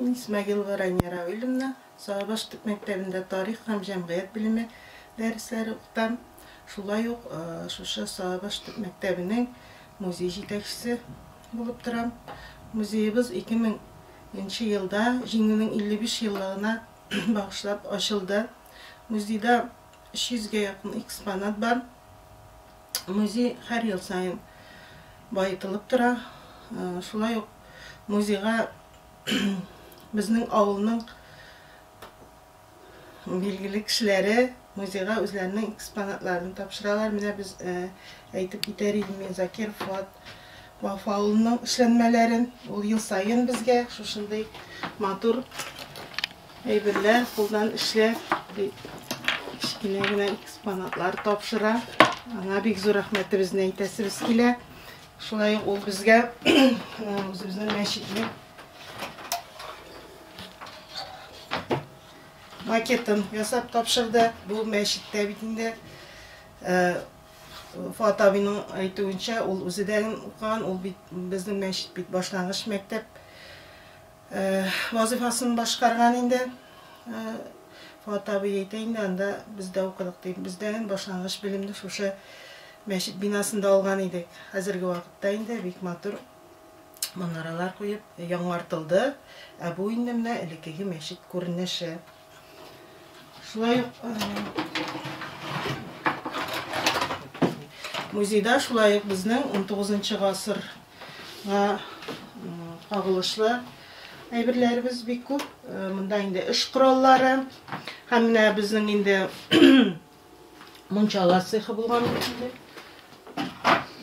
Мин Исмәгыйлова Рания Равилевна, Сарыбаш төп мәктәбендә тарих һәм җәмгыять белеме дәресләре укытам. Шулай ук шушы Сарыбаш төп мәктәбенең музей җитәкчесе булып торам. Музеебыз 2000 нче елда Җиңүнең 55 еллыгына багышлап ачылды. Музейда 300 гә якын экспонат бар. Музей һәр ел саен баетылып тора. Шулай ук музейга безнең авылның билгеле кешеләре музейга үзләренең экспонатларын тапшыралар. Менә без әйтеп китәр идем, Закир Фуат Вафа улының эшләнмәләрен. Ул ел саен безгә шушындый матур әйберләр, кулдан эшләр, кечкенә генә экспонатлар тапшыра. Аңа бик зур рәхмәтебезне әйтәсебез килә. Шулай ук ул безгә үзебезнең мәчетне макетын ясап тапшырды. Бу мәчеттә бит инде Фоат абыйның әйтүенчә, ул үзе дә укыган, ул бит безнең мәчет бит башлангыч мәктәп вазыйфасын башкарган инде. Фоат абый әйтә инде, анда без дә укыдык дип. Без дә башлангыч белемне шушы мәчет бинасында алган идек. Хәзерге вакытта инде бик матур манаралар куеп яңартылды, ә бу инде менә элеккеге мәчет күренеше. Шулай ук музейда шулай ук безнең 19 гасырга кагылышлы әйберләребез бик күп. Монда инде эш кораллары һәм менә безнең инде мунчала цехы булган инде.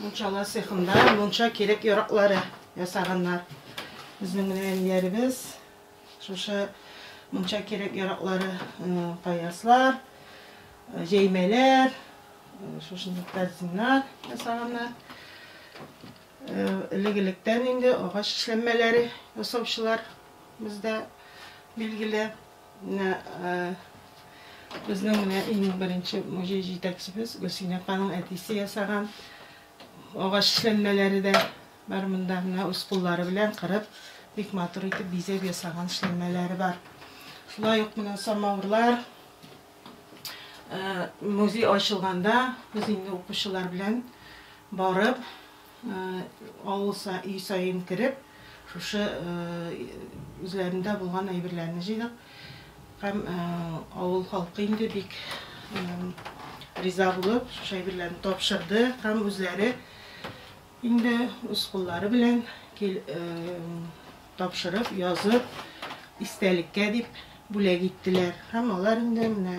Мунчала цехында мунча кирәк яраклары ясаганнар. Безнең менә әниләребез Шушы мунча кирәк-яраклары, паяслар, җәймәләр, шушындый корзиннар ясаганнар. Элек-электән инде агач эшләнмәләре ясаучылар бездә билгеле. Безнең менә иң беренче музей җитәкчебез Гөлсинә апаның әтисе ясаган агач эшләнмәләре дә Бар монда менә үз куллары белән кырып, бик матур итеп бизәп ясаган эшләнмәләре бар. Шулай ук менә самавырлар. Э, музей ачылганда без инде укучылар белән барып, э, авыл са- өй саен кереп, шушы э, үзләрендә булган әйберләрне җыйдык. Һәм э, авыл халкы инде бик э, риза булып, шушы әйберләрне тапшырды һәм үзләре Инде үз куллары белән тапшырып, язып, истәлеккә дип бүләк иттеләр. Һәм алар инде менә.